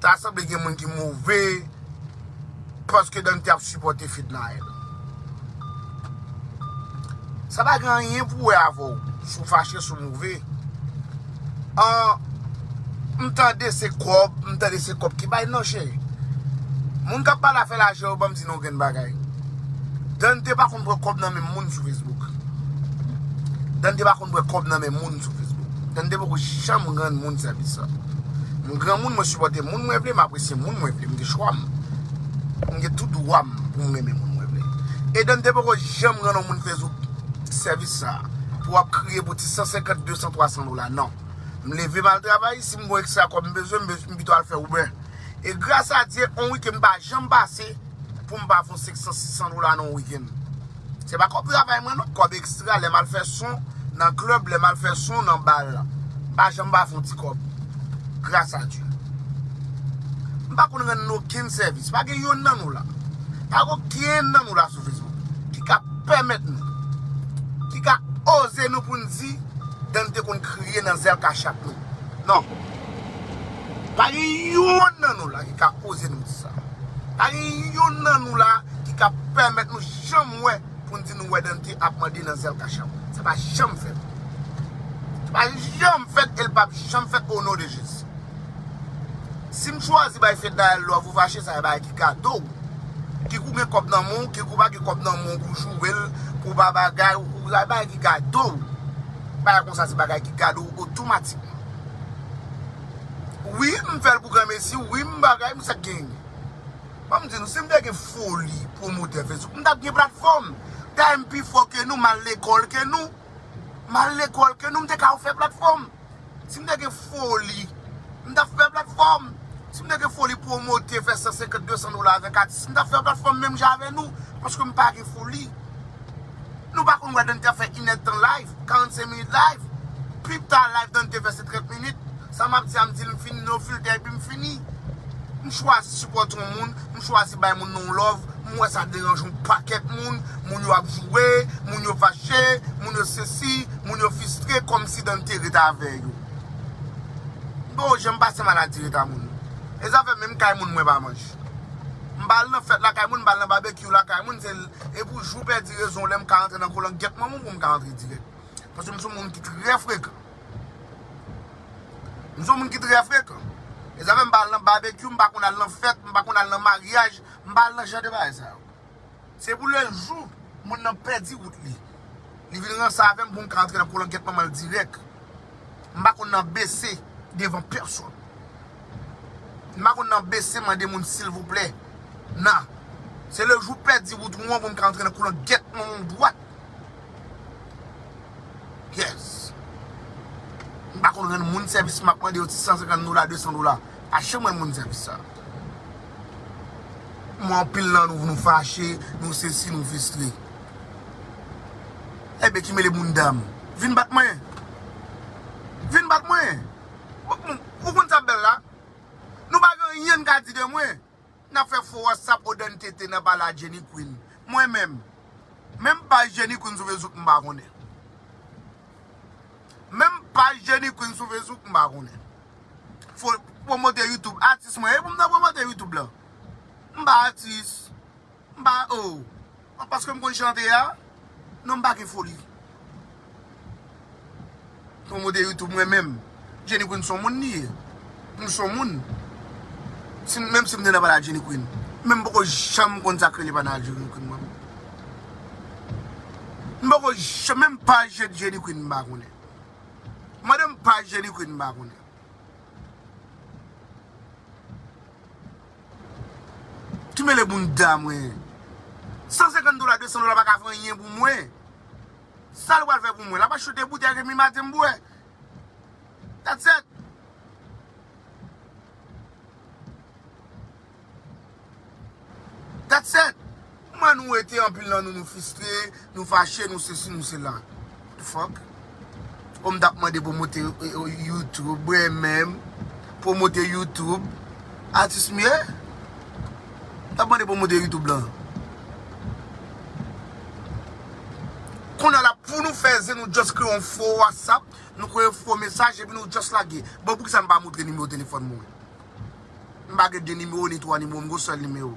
Ta sanble gen moun ki move paske Dante ap sipòte Fednaelle. Sa pa gen anyen pou wè avè w si w fache, si w move. An, m tande se kòb, m tande se kòb ki bay. Non cheri, moun k ap pale afè lajan yo ban m di nou yon grenn bagay. Dante pa konn pran kòb nan men moun sou Facebook. Dante pa konn pran kòb nan men moun sou Facebook. M te poko janm rann moun sèvis sa. M granmoun, mwen sipòte moun mwen vle, m apresye moun mwen vle. M gen chwa m. M gen tout dwa m pou m renmen moun mwen vle. Edan te poko janm rann yon moun Facebook sèvis sa a pou w ap kriye pou ti 150, 200, 300 dola. Non. M leve m al travay, si m gen yon ekstra kòb m bezwen, m pito al fè Uber. E gras a Dye, yon wikenn pa janm pase pou m pa fè yon 500, 600 dola nan yon wikenn. Se pa kòb travay mwen non, kòb extra lè mal fè son nan club, lè mal fè son nan bal la. M pa janm pa fè yon ti kòb. Gras a Dye. M pa konn rann okenn sèvis. Pa gen yonn nan nou la. Pa gen okenn nan nou la sou Facebook ki ka pèmèt nou, ki ka oze nou pou n di Dan te konn kriye nan zèl kachap nou. Non. Pa gen yonn nan nou la ki ka oze nou di sa. Pa gen youn nan nou la ki ka pèmèt nou janm wè pou n di nou wè Dante ap mande nan zèl kacham. Sa pa janm fèt. Sa pa janm fèt e l pap janm fèt o non de Jezi. Si m chwazi bay Fednaelle love ou fache sa e bagay ki gate w. Ki kou gen kòb nan men w, ki kou pa gen kòb nan men w pou w joure l, pou w ba bagay, ou sa e bagay ki gate w. Bagay konsa se bagay ki gate w otomatikman. Wi m fèl pou granmesi wi m bagay m sak gen banm di nou sim te gen foli pwomotè facebook m tap gen platfòm dayè m pi fò ke nou mal lekòl ke nou mal lekòl ke nou m te ka fè platfòm sim te gen foli m tap fè platfòm sim te gen foli pwomote fè 150 200 dola avèk atis m tap fè platfòm menm jan avè nou paske m pa gen foli. Nou pa konn wè Dante ap fè inèd tan live, 45 minit live. Pi ta live Dante te fè se 30 minit. Sa map di a m di l m fini no filter epi m fini. M chwazi sipòte yon moun, m chwazi bay moun nan yon love, m wè sa deranje yon pakèt moun, moun yo ap joure, moun yo fache, moun yo sesi, moun yo fistre kòmsi Dante ret avè yo. M pa yon janm pase maladi ret a moun. E zafè menm kay moun mwen pa manj. M pa al nan fèt lakay moun, m pa al nan babekyou lakay moun se E pou jou pèdi rezon w lè m ka rantre nan kolangèt manman w pou m ka rantre dirèk. Paske m se yon moun ki trè frekan. M se yon moun ki trè frekan. E sa fè m pa al nan babekyou, m pa konn al nan fèt, m pa konn al nan maryaj, m pa al nan jan de bagay sa yo. Se pou lè jou moun nan pèdi wout li, li vin ranse avè m pou m ka rantre nan kolangèt manman l dirèk. M pa konn nan bese devan pèsonn. M pa konn nan bese mande moun silvouplè. Nan. Se le jou w pèdi wout wou an pou m ka antre nan koulant gèt manman w dwat. Yes. M pa konn rann moun sèvis m ap mande yo ti 150 dola, 200 dola. Pa janm rann moun sèvis sa. M wè anpil nan nou nou fache, nou sesi, nou fistre. Hey Becky mele moun dam. Vin bat mwen. Vin bat mwen. Ou konn sa bella. Nou pa gen anyen n ka di de mwen. Nap fe fo whatsapp o dan tete nan pale a Jenny Queen. Mwen menm. Menm paj Jenny Queen sou Facebook m pa konnen. Menm paj Jenny Queen sou Facebook m pa konnen. Fo promote YouTube. Atis mwen. E pou m ta promote YouTube lan. M pa atis. M pa oo. An paske m konn chante a. Non m pa gen foli. Pwomote youtube mwen menm. Jenny Queen son moun li ye. M son moun. Menm si m te nan panal Jenny Queen. Men m poko janm konn sak rele panal Jenny Queen mwen. M poko janm menm paj Jenny Queen m pa konnen. Mande m paj Jenny Queen m pa konnen. Ki mele bounda mwen. 150 dola 200 dola paka fè anyen pou mwen. Sal pral fè pou mwen. Lap achte 2 boutèy remi maten m bwè. That's it. That's it. Kman nou ete anpil nan nou nou fistre nou fache nou sesi nou sela the fuck oh m tap mande promote YouTube mwen menm promote YouTube atis m ye m tap mande promote YouTube lan kounya la pou nou fè zen nou just kreye yon fo WhatsApp nou kreye yon fo mesaj epi nou just lage bon poukisa m pa montre nimewo telefòn mwen m pa gen 2 nimewo ni 3 nimewo m gen yon sèl nimewo.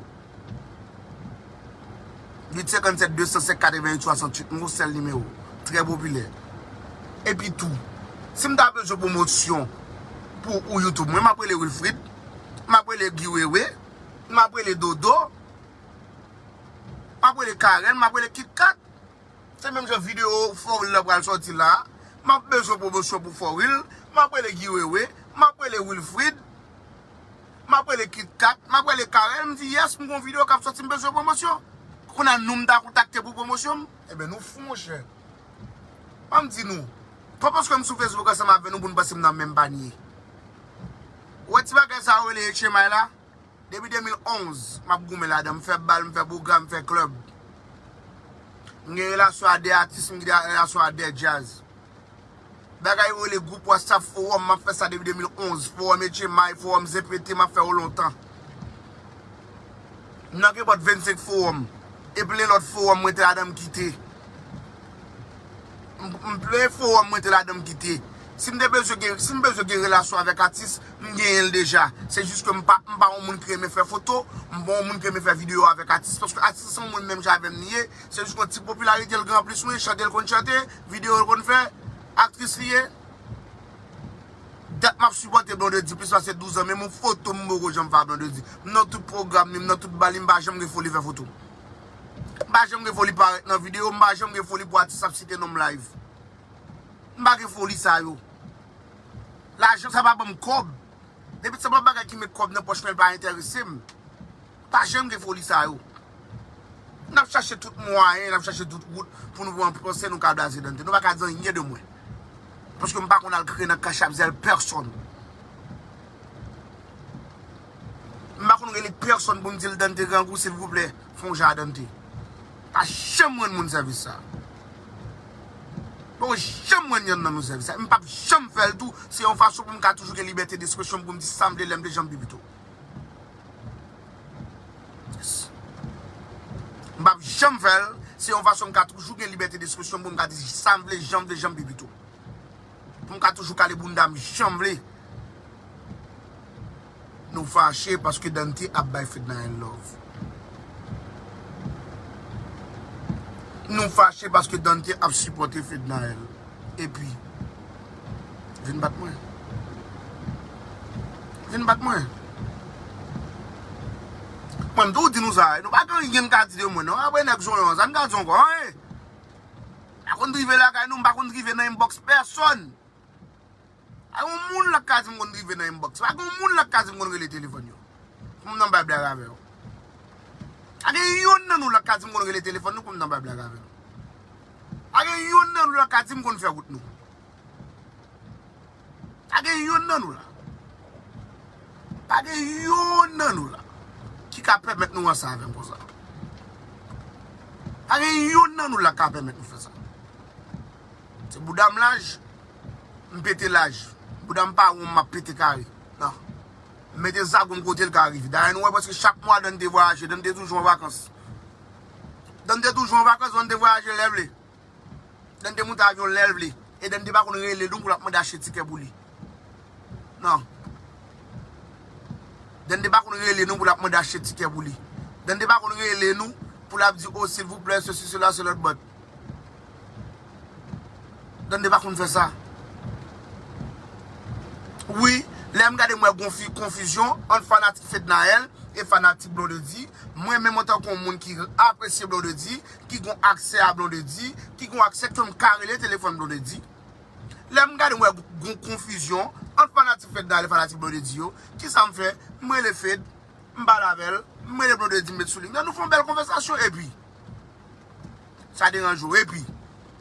857 205 88 68 Mwen sèl nimewo Trè popilè Epi tou Si m ta bezwen pwomosyon Pou ou youtube mwen M ap rele Wilfrid M ap rele Guy Wewe M ap rele Dodo M ap rele Karen M ap rele Kit Kat Se menm jan video For Real la pral soti la a M ap bezwen pwomosyon pou For Real M ap rele Guy Wewe M ap rele Wilfrid. Map rele kitkat, map rele carel m di yes m gon video kap soti m bezwen pwomosyon. Kounya nou m ta kontakte pou pwomosyon m? Ebyen nou fou monchè. Banm di nou, pa paske m sou Facebook ansanm avè nou pou nou panse m nan menm panye. Ou wè ti bagay sa yo rele etchemay la? Depi 2011 map goumen ladan, m fè bal, m fè pwogram, m fè club. M gen relasyon a 2 atis, m gen relasyon a 2 djazz. Bagay yo rele group whatsapp forum map fè sa depi 2011 forum etchemay forum zepete map fè yo lontan m nan kenpòt 25 forum e plen lòt forum mwen te ladan m kite m plen forum mwen te ladan m kite si m te bezwen gen si m bezwen gen relasyon avèk atis m genyen l deja se jis ke m pa m pa yon moun ki renmen fè foto m pa yon moun ki renmen fè video avèk atis paske atis se yon moun menm jan avèm li ye se jis ke ti popilarite l gen anplis mwen chante l konn chante. Video l konn fè? Aktris li ye? Dat map sipòte Blondedy plis pase 12 ans menm yon foto m poko janm fè a Blondedy. M nan tout pwogram li, m nan tout bal li, m pa janm gen foli fè foto. M pa janm gen foli parèt nan video, m pa janm gen foli pou atis ap site non m live. M pa gen foli sa yo. Lajan sa pa banm kòb. Depi sa pa bagay ki met kòb nan pòch mwen l pa entèrese m. Pa janm gen foli sa yo. N ap chache tout mwayen, n ap chache tout wout pou nou pran pwosè nou ka blaze Dante. Nou pa ka di anyen de mwen. Paske m pa konn al kriye nan kachap zèl pèsonn. M pa konn rele pèsonn pou m di l Dante grangou silvouplè fon jan a Dante. M pa janm rann moun sèvis sa. M pa konn janm rann yonn nan nou sèvis sa. E m p ap janm fè l tou. Se yon fason pou m ka toujou gen libète despresyon m pou m di sa m vle lè m vle jan m vle pito. Yes. M pap janm fè l, se yon fason m ka toujou gen libète despresyon m pou m ka di sa m vle, jan m vle, jan m pi pito. Pou m ka toujou kale bounda m jan m vle. Nou fache paske Dante ap bay Fednaelle love. Nou fache paske Dante ap sipòte Fednaelle. Epi. Vin bat mwen. Vin bat mwen. Mwen mtou di nou sa. Nou pa gen anyen ka di de mwen non. Apre nèg zonyon an. Sa n ka di ankò. Anyen. M pa konn drive lakay nou. M pa konn drive nan inbox pèsòn. Pa gen yon moun la k ka di m konn drive nan inbox. Pa gen yon moun la k ka di m konn rele telefòn yo. Pou m nan bay blag avè yo. Pa gen yonn nan nou la k ka di m konn rele telefòn nou pou m nan bay blag avè yo. Pa gen yonn nan nou la ka di m konn fè wout nou. Pa gen yonn nan nou la. Pa gen yonn nan nou la ki ka pèmèt nou ansanm avè m konsa. Pa gen yonn nan nou la ka pèmèt nou fè sa. Se bouda m laj, m pete laj. Bouda m pa won m ap pete kare. Nan. M mete zago m kote l ka rive. Dayè nou wè preske chak mwa Dany te vwayaje. Dany te toujou an vakans. Dany te toujou an vakans, Van te vwayaje lè vle. Dany te moute avyon lè l vle. E Dany te pa konn rele nou pou l ap mande achte tikè pou li. Non. Dany te pa konn rele nou pou l ap mande achte tikè pou li. Dany te pa konn rele nou pou l ap di o silvouplè sesi sela selòt bòt. Dande pa konn fè sa. Wi, lèm gade m wè gon fi konfizyon ant fanatik Fednaelle e fanatik Blondedy, mwen menm antan kon moun ki apresye Blondedy, ki gon aksè a Blondedy, ki gon aksè ke m ka rele telefòn Blondedy. Lèm gade m wè gon konfizyon ant fanatik Fednaelle e fanatik Blondedy yo, kisa m fè? M rele Fed, m pale avèl, m rele Blondedy m met sou liy nan nou fon bèl konvèsasyon epi. Sa deranj ou epi.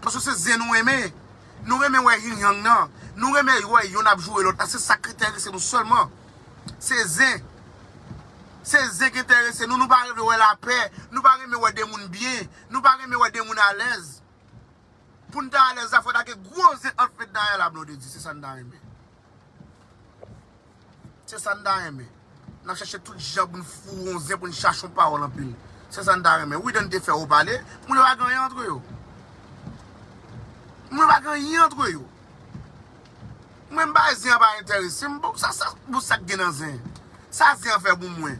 Paske se zen nou renmen. Nou renmen wè yin yang nan. Nou renmen wè yonn ap joure lòt la. Se sa k enterese nou sèlman. Se zen. Se zen k enterese nou. Nou pa renmen wè lapè. Nou pa renmen wè de moun byen. Nou pa renmen wè de moun alèz. Pou n ta alèz la fò ta gen gwo zen ant Fedna e Ala Blondedy. Se sa n ta renmen. Se sa n ta renmen. N ap chache tout jan pou n foure yon zen, pou n chache yon pawòl anpil. Se sa n ta renmen. Widen te fè ou pale. Moun yo pa gen anyen antre yo. Moun yo pa gen anyen antre yo. Mwen m bay zen an pa enterese m. Bon, sa k gen nan zen? Sa zen an fè pou mwen?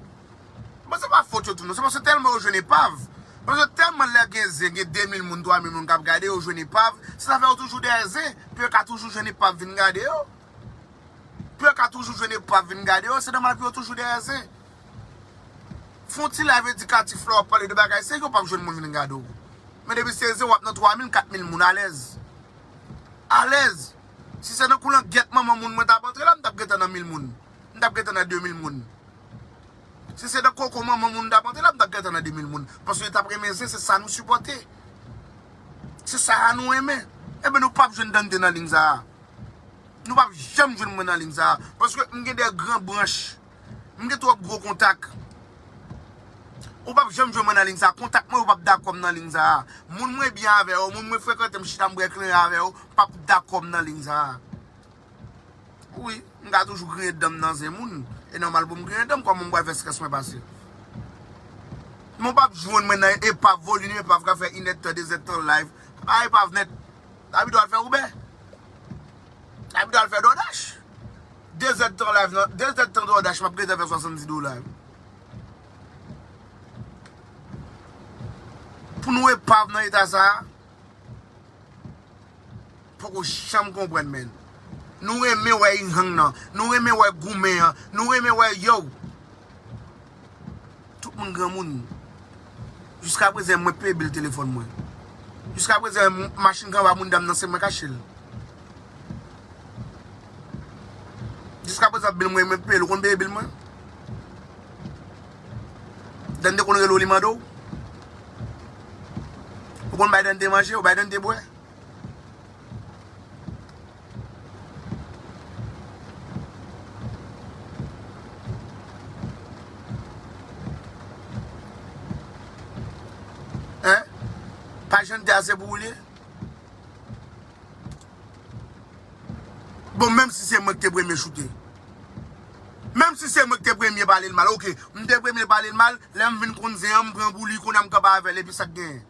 Bon se pa fot yo tou non se paske tèlman yo jwenn epav paske tèlman lè gen zen gen 2 mil moun 3 mil moun kap gade yo jwenn epav se sa fè yo toujou dèyè zen pou yo ka toujou jwenn epav vin gade yo pou yo ka toujou jwenn epav vin gade yo se nòmal pou yo toujou dèyè zen fon ti live edikatif la wap pale de bagay se yo pap jwenn moun vin gade w men depi se zen wap nan 3 mil 4 mil moun alèz alèz si se nan koulangyèt manman moun mwen tap antre la m tap gentan nan mil moun. m tap gentan nan 2000 moun si se nan koko manman moun m tap antre la m tap gentan nan 2000 moun paske yo tap renmen zen se sa nou sipòte se sa a nou renmen enben nou pap jwenn Dante nan ling sa a nou pap janm jwenn mwen nan ling sa a paske m gen de gran branch m gen twòp gwo kontak ou pap janm jwenn mwen nan ling sa a kontak mwen yo pap dakò m nan ling sa a moun mwen byen avè yo moun mwen frekante m chita m bwè klen avè yo pap dakò m nan ling sa a. Wi, m ka toujou griyen dan m nan zen moun. E nòmal pou m griyen dan m, kòman m pral fè strès mwen pase? Men w pap jwenn mwen nan epav, volim epav ka fè inèdtan, dezèdtan live. M pa epav nèt. La pi dò al fè Uber. La pi dò al fè DoorDash. Dezèdtan live nan, dezèdtan DoorDash m ap gentan fè 70 dola yo. Pou nou epav nan eta sa a? Poko janm konprann menn. Nou renmen wè yn hang nan. Nou renmen wè goumen an. Nou renmen wè yow. Tout moun granmoun. Jiska prezen mwen peye bil telefon mwen. Jiska prezen machin kanva moun dam nan se mwen kachel. Jiska prezen bil mwen mwen peyel ou konn peye bil mwen. Dande konn rele w li mande w? Ou konn bay Dande manje? Ou bay Dande bwè? Hein? Pa Jante a se pou ou li ye? Bon menm si se mwen ki te premye choute. Menm si se mwen ki te premye pale l mal ok m te premye pale l mal lè m vin konn zen an m pran pou li kounye a m kanpe avè l epi sa k genyen?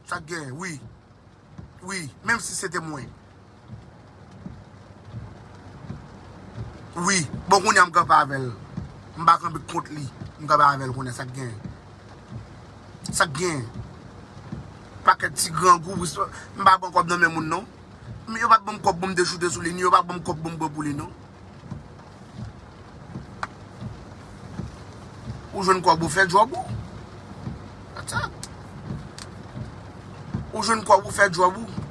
Sa k genyen wi wi menm si se te mwen wi bon kounye a m kanpe avè l m pa kanpe kont li m kanpe avè l kounye a sa k genyen? Sa k genyen? Pakèt ti grangou m pa pran kòb nan men moun non. M yo pat banm kob poum te choute sou li ni yo pa banm kob poum pran pou li non. Ou jwenn kob ou fè job ou. That's all. Ou jwenn kob ou fè job ou.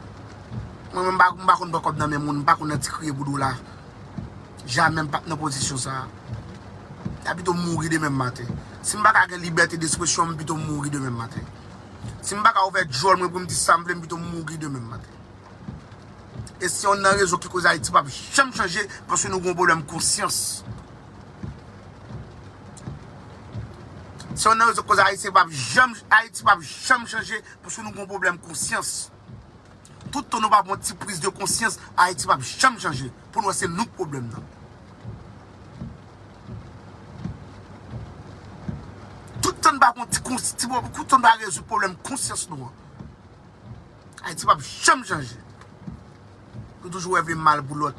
Mwen menm m pa konn pran kob nan men moun, m pa konn nan ti kriye pou dola. Jamè m pap nan pozisyon sa. Mta pito mouri demen maten. Sim paka gen libète despresyon m pito mouri demen maten. Si m pa ka ouvè djòl mwen pou m di sa m vle m pito mouri demen maten. E se yonn nan rezon ki koz Ayiti pap janm chanje paske nou gen yon pwoblèm konsyans. Se yonn nan rezon ki koz Ayiti pap janm chanje paske nou gen yon pwoblèm konsyans. Tout tan nou pa pran yon ti prise de conscience Haïti pap janm chanje pou nou wè se nou ki problème nan. Tout tan nou pa pran tout tan nou pa rezoud problème conscience nou an Haïti pap janm chanje. Nou toujou wè vle mal pou lòt.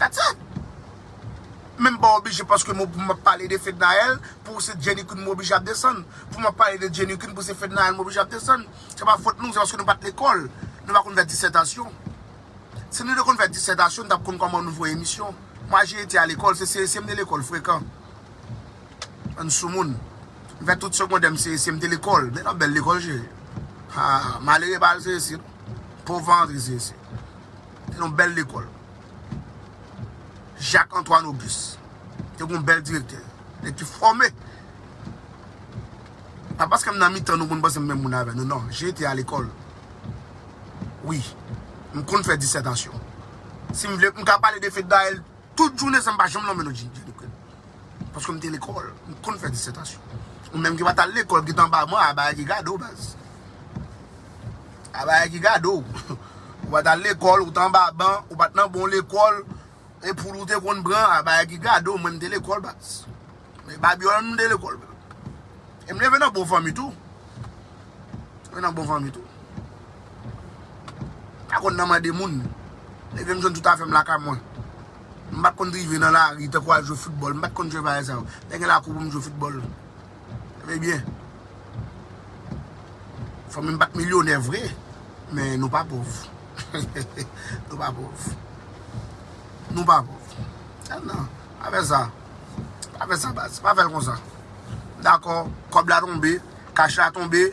That's it! Menm pa oblije paske mwen pou map pale de Fednaelle pou se Jenny Queen mwen oblije ap desann. Pou map pale de Jenny Queen pou se Fednaelle mwen oblije ap desann. Se pa fot nou, se paske nou pat lekòl. Nou pa konn fè disètasyon. Si nou te konn fè disètasyon nou tap konn kòman nou voye emisyon. Mwa je ete a lekòl, se CSM de lekòl frekan. Ann soumoun. M fè tout segondè m CSC m te lekòl. Men yon bèl lekòl cheri. Haa malere pa al CSC non. Pov pa antre CSC. Te yon bèl lekòl. Jacques Antoine Auguste. Te yon bèl direktè. Nèg ki fòme. Pa paske m nan mitan nou pou n panse m menm moun avè nou non. J te a lekòl. Wi. M konn fè disètasyon. Si m vle m ka pale de Fednaelle. Tout jounen sa m pa janm lonmen non Jennifer Duprel. Paske m te lekòl, m t konn fè disètasyon. Ou menm ki pa t al lekòl ki t anba mwen abaya ki gade w baz. Abaya ki gade w. Ou pa t al lekòl, ou t anba ban, ou pa t nan bon lekòl, e poul ou te konn pran abaya ki gade w mwen m te lekòl baz. Men Babiola m de lekòl. E m leve nan bon fanmi tou. Leve nan bon fanmi tou. Pa konn nan mande moun. Leve m jwenn tout afè m lakay mwen. M pa konn drive nan lari tankou al jwe foutbòl. M pa konn jwe bagay sa yo. Lè gen lakou pou m jwe foutbòl. Leve byen. Fanmi m pa t milyonè vre. Men nou pa pòv. Nou pa pòv. Nou pa pòv. Al nan. Pa fè sa. Pa fè sa baz, pa fè l konsa. Dakò, kòb la tonbe, kach la tonbe,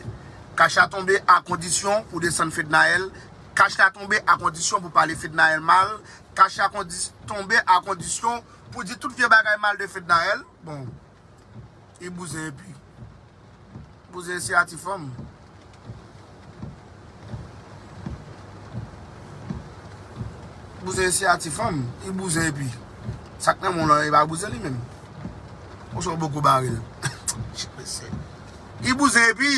kach la tonbe a kondisyon pou desann Fednaelle, kach la tonbe a kondisyon pou pale Fednaelle mal, kach la tonbe a kondisyon pou di tout vye bagay mal de Fednaelle. Bon. Ki bouzen epi? Bouzen e siyati fanm. Bouzen e siyati fanm. Ki bouzen epi? Sak nan menw lan e pa bouzen li menm. Ou son boko baril. Chit mesye. Ki bouzen epi?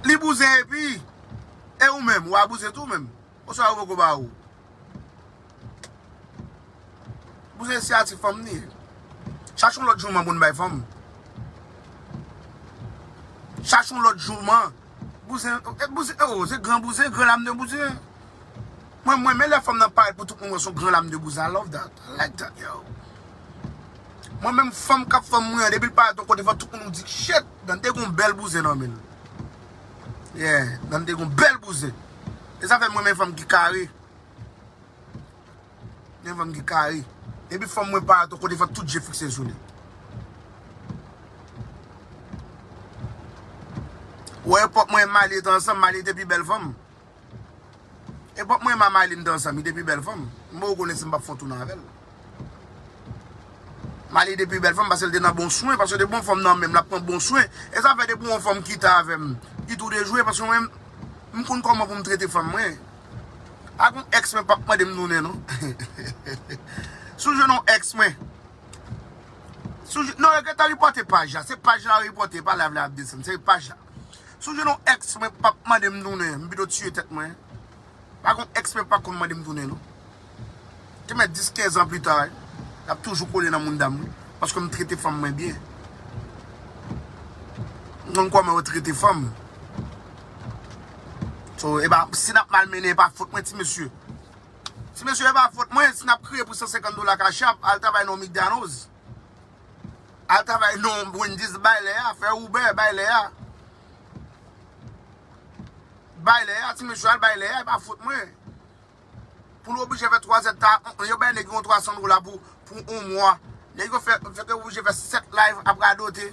Li bouzen epi? E ou menm? Ou a bouzen tou menm? Poukisa yo poko ba ou. Pou se siyati fanm li ye. Chache yon lòt jouman pou n bay fanm. Chache yon lòt jouman. Bouzen e bouzen e o se gran bouzen gran lame de bouzen. Mwen mwen men lè fanm nan parèt pou tout moun wè son gran lame de bouzen I love that I like that yo. Mwen menm fanm kap fanm mwen an depi l parèt yon kote fò tout moun di shit Dante gon bèl bouzen nan men l. Yeah, Dan te gon bèl bouzen. E sa fè m renmen fanm ki kare. Yon fanm ki kare. Depi fanm mwen pa ato kote fòk tout je fikse sou li. Wè epòk mwen e Malie te ansanm, Malie te pi bèl fanm. Epòk mwen ma Mayline dan zanmi depi bèl fanm m bon ou konnen si m pap fon toune avèl Mayline depi bèl fanm pasel te nan bon swen pasel te bon fanm nan menm lap pran bon swen e sa fè depi yon fanm kite avèm li tou de jwe paske mwen m konn kòman pou m trete fanm mwen ak yon ex mwen pap mande m toune non si w jwenn yon ex mwen si w jwenn non regrèt la ripòte paj la se paj la ripòte pa live la yap desann se paj la. Sou je nou ex mwen pap mande m tounen m pito tiye tèt mwen pa gon ex mwen pa konn mande m tounen non te mèt 10 15 ans plus tard lap toujou kole nan moundam wi paske m trete fanm mwen byen m konn kòman yo trete fanm so epa si nap mal mennen epa fot mwen ti mesye ti mesye epa fot mwen si nap kriye pou 150 dola cash app al travay nan yon migdanoz. Al travay non Wendy's bay lè a fè Uber bay lè a bay lè a ti mesye al bay lè a e pa fot mwen pou l oblije fè 3 zèt ta yo bay nèg yon 300 dola pou pou 1 mwa nèg yo fè yo te oblije fè 7 live ap radote.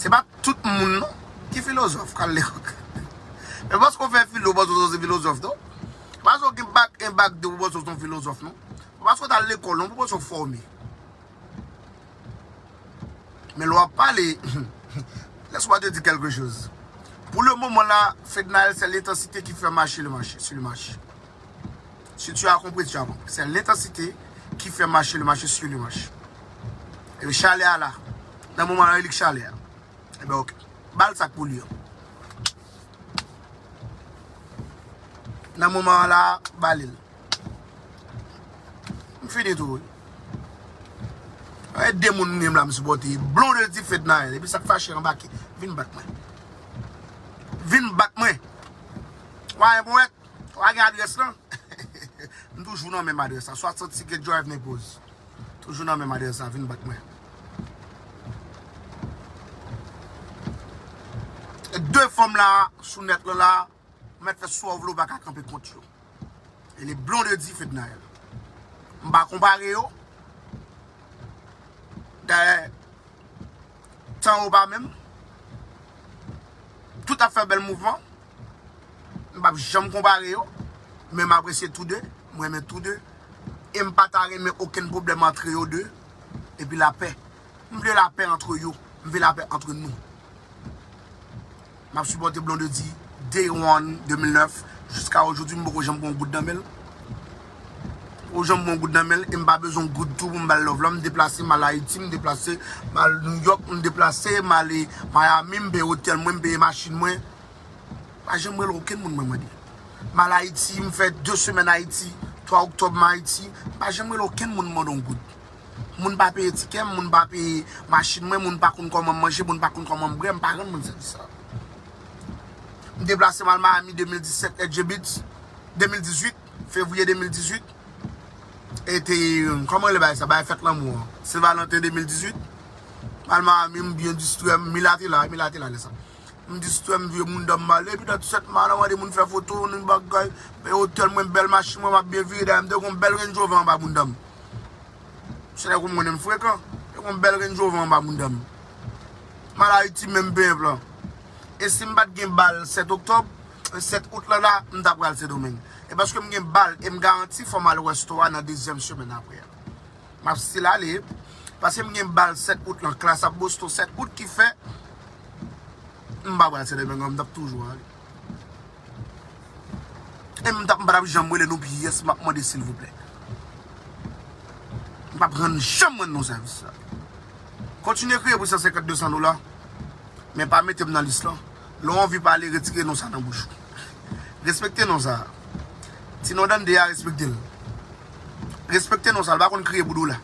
Se pa tout moun non ki filozof kal lekòl. E paske ou fè filo ou panse ou son ti filozof non. Se pa paske ou gen bak 1 bak 2 ou panse ou son filozof non. Se pa paske ou tal lekòl non pou panse ou fòme. Men lè wap pale, lès mwa te di kèlke choz. Pou le moman la, Fednaelle se l'intensite ki fè mache le mache, si le mache. Si tu as compris tu as compris c'est l'intensité qui fait marcher le marché sur le marché et le chalet a la nan moman an elik chalet a et ben ok bal sak pou li an nan moman an la balil m fini tou wi Ae de moun m gen m la m sipote blon de di fednael epi sak fache anbake vin bat mwen vin bat mwen wa yon poète Wa gen adrès lan? M toujou nan menm adrès la. 60 Siget Drive Naples. Toujou nan menm adrès la. Vin bat mwen. 2 fanm la sou nèt lan la. M mèt fè sa w vle w pa ka kanpe kont yo. E le Blondedy Fednaelle. M pa konpare yo. Dayè. Tan yo pa menm. Tout ap fè bèl mouvman. M pap janm konpare yo. Men m apresye tou 2. M renmen tou 2. E m pa ta renmen okenn pwoblèm antre yo 2. E pi lapè. M vle lapè antre yo. M vle lapè antre nou. Map sipòte Blondedy day one 2009 jiska ojodwi m poko janm pran yon goud nan menl poko janm pran yon goud nan menl e m pa bezwen yon goud tou pou m bal love lan m deplase mal ayiti m deplase mal nouyòk m deplase male mayami m peye otèl mwen m peye machin mwen m pa janm rele okenn moun mwen mande mal ayiti m fè 2 semèn ayiti 3 oktòb m ayiti m pa janm rele okenn moun mande yon goud. Moun pa peye tikè m, moun pa peye machin mwen, moun pa konn kòman m manje, moun pa konn kòman m bwè, m pa rann moun sèvis sa. M deplase m al Miami 2017 et je bits, 2018, fevriye 2018, e te, kòman rele bagay sa, bagay fèt lanmou an, Sen Valanten 2018, m al Miami, m byen distrè m, Mila te la, Mila te la lè sa. M distrè m vye moun dan m male epi dan tisèt ma nan mande moun fè foto m ni bagay Bay otèl mwen bèl machin mwen map byen vire dayè m te gon bèl Range Rover anba bounda m se nèg ou m konnen m frekan te gon bèl Range Rover anba bounda m m al Ayiti menm penp lan e si m pat gen bal 7 oktòb 7 out lan la m ta pral sendomeng e paske m gen bal e m garanti fò m al wè store a nan dezyèm semèn aprè a. Map still ale paske m gen bal 7 out lan klass ap Boston 7 out ki fè m pa pral sendomingo m tap toujou ale e m tap m patap janm rele nou pyès map mande silvouplè m pap rann janm rann nou sèvis sa kontinye kriye pou 150 200 dola men pa mete m nan lis lan Lè w anvi pale retire non sa nan bouch ou. Respekte non sa. Ti non Dande a respekte l. Respekte non sa l pa konn kriye pou dola.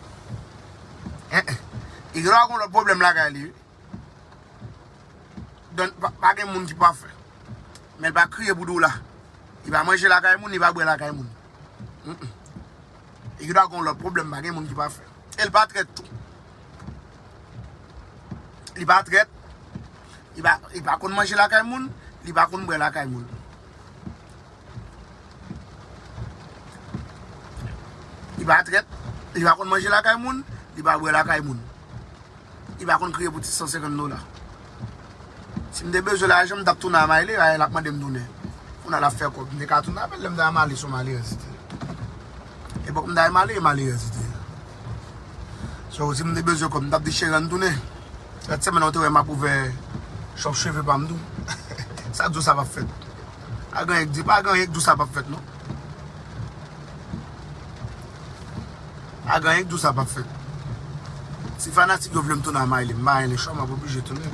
Hein hein. Li gendwa gon lòt pwoblèm lakay li wi. Don pa gen moun ki pafè. Men l pa kriye pou dola. Li pa manje lakay moun li pa bwè lakay moun. Li gendwa gon lòt pwoblèm pa gen moun ki pafè. E l pa trèt tou. Li pa trèt, li pa konn manje lakay moun, li pa konn bwè lakay moun. Li pa trèt, li pa konn manje lakay moun, li pa bwè lakay moun. Li pa konn kriye pou ti 150 dola. Sim te bezwen lajan mtap tounen a Mayle a lap mandem tounen kounal ap fè kob mte ka tounen avèl lèm ta Mayle son malerèz li te epòk mta Mayle malerèz li te so sim te bezwen kob mtap di cheri ann tounen lòt semèn lan ou te wè map ouvè chòp cheve pam tou sa k di w sa pap fèt pa gen anyen k di w sa pap fèt non. A ganyen kdou sa pap fèt. Si fanatik yo vlem tounen a Maylie, mpa renmen chwa map oblije tounen.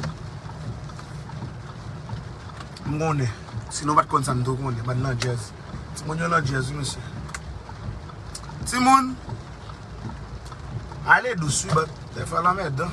M konnen, si nou pat konn sa m tou konnen, bann landjèz. Timoun yo landjèz wi mesye. Timoun, ale dous wi bann, dèfwa l anmèdan.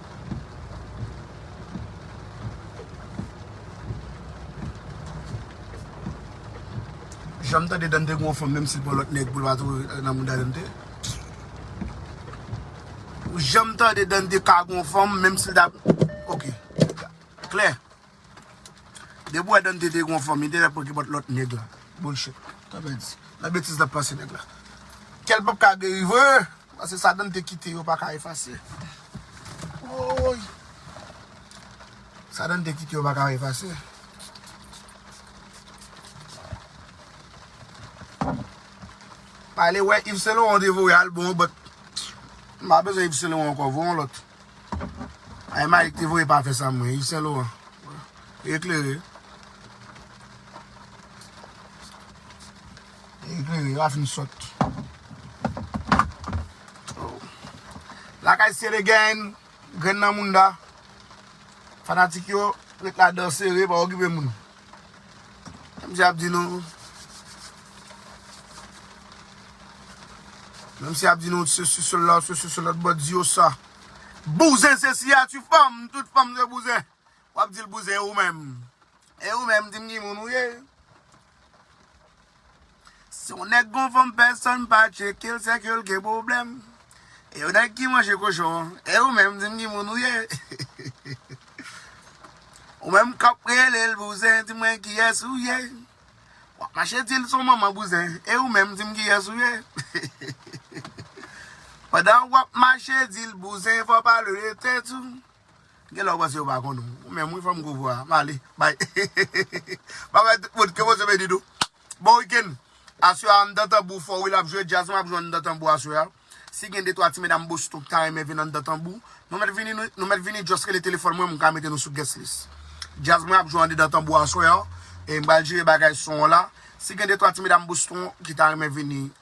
Janm tande Dante gon fanm menm sil pran lòt nèg poul pa tou nan mouda Dante Janm tande Dante ka gon fanm menm sil ta ok klè. Depi wè Dante te gon fanm li te fè pran kipòt lòt nèg la bullshit sa vle di nan betiz lap panse nèg la kèl pap ka geri vre paske sa Dante kite yo paka efase woyy sa Dante kite yo paka efase. Pale wè Yves Saint Laurent te voye album an but m pa bezwen Yves Saint Laurent ankò voye yon lòt. Ay Malik te voye pa fè sa mwen Yves Saint Laurent Eklere Eklere yo a fin sòt Lakay sere gen Grenn nan mounda Fanatik yo Ret la dan sere pa okipe moun Menm si ap di nou Menm si ap di nou se sou sèl la ou se sou sèl lòt bò di yo sa. Bouzen se siyati fanm, tout fanm se bouzen. Wap dil bouzen ou menm. E ou menm dim ki moun ou ye. Si yon nèg gon fanm pèsòn pa tchekel se ke l gen pwoblèm e yon nèg ki manje kochon an e ou menm di m ki moun ou ye ou menm k ap rele l bouzen di mwen kiyès ou ye w ap mache di l son manman bouzen e ou menm di m kiyès ou ye pandan w ap mache di l bouzen fò w pale de tèt ou. Genlè ou panse yo pa konn ou menm wi fanm gwo vwa a. M ale bay. Babay tout moun ke Bondye beni nou. Bon weekend. Aswè a anndan tanbou fò wi lap jwe djaz map jwe anndan tanbou aswè a. Si gen de twa ti medam Boston ki ta renmen vin anndan tanbou nou mèt vini nou mèt vini just rele telefòn mwen mwen ka mete nou sou guest list. Djaz mwen ap jwe andedan tanbou aswè a e m pral jere bagay son an la. Si gen de twa ti medam Boston ki ta renmen vini.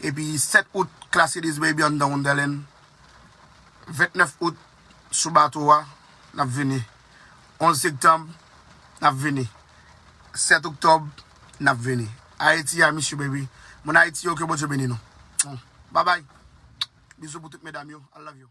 Epi 7 out Classy This Baby anndan Wonderland 29 out sou bato a n ap vini 11 sektanb n ap vini 7 oktòb n ap vini Ayiti I miss you baby Moun Ayiti yo ke Bondye beni nou Babay Bizou pou tout medam yo I love you.